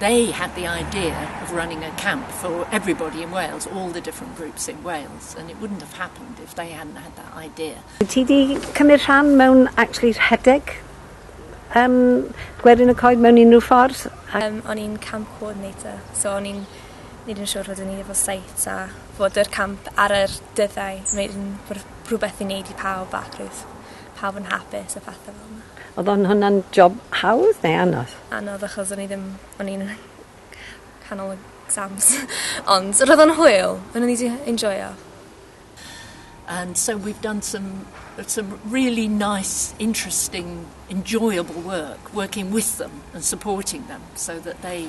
They had the idea of running a camp for everybody in Wales, all the different groups in Wales, and it wouldn't have happened if they hadn't had that idea. Wyt ti wedi cymryd rhan mewn actually rhedeg um, gwerin y coed mewn unrhyw ffordd? Ac... Um, o'n i'n camp coordinator, so o'n i'n neud yn siŵr fod o'n i efo sites a fod yr camp ar yr dyddau, wneud yn rhywbeth i wneud i pawb ac roedd pawb yn hapus a phethe fel 'na. Odd o'n hwnna'n job hawdd neu anodd? Anodd achos o'n i ddim o'n i'n canol exams ond roedd o'n hwyl o'n i 'di enjoio. And so we've done some er- some really nice interesting enjoyable work working with them and supporting them so that they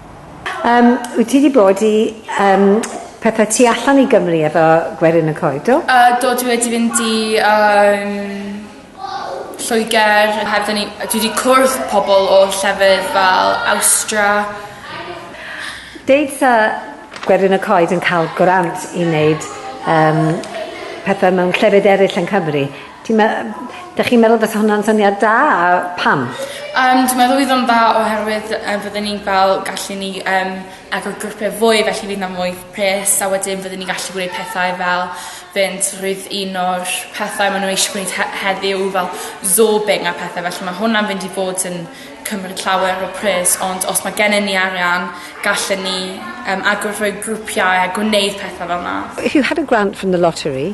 Yym, wyt ti 'di bod i yym pethe tu allan i Gymru efo gwerin y coed do? Yy do dwi wedi fynd i yym Lloeger a hefyd o'n i yy dwi 'di cwrdd pobol o llefydd fel Awstra. Deud 'tha gwerin y coed yn ca'l gwrant i neud yym pethe mewn llefydd eryll yn Cymru Ti'n me- yym 'dych chi'n meddwl bysa hwnna'n syniad da a pam? Yym dwi meddwl fydd o'n dda oherwydd yym fydden ni'n fel gallu ni yym agor grwpia' fwy felly fydd 'na mwy pres a wedyn fydden ni gallu gwneud pethau fel fynd rhwyd un o'r pethau ma' n'w eisiau gwneud he- heddiw fel zorbing a pethe felly ma' hwnna'n fynd i fod yn cymryd llawer o pres ond os ma' gennon ni arian gallen ni yym agor rhwy grwpiau a gwneud pethe fel 'na. If you had a grant from the lottery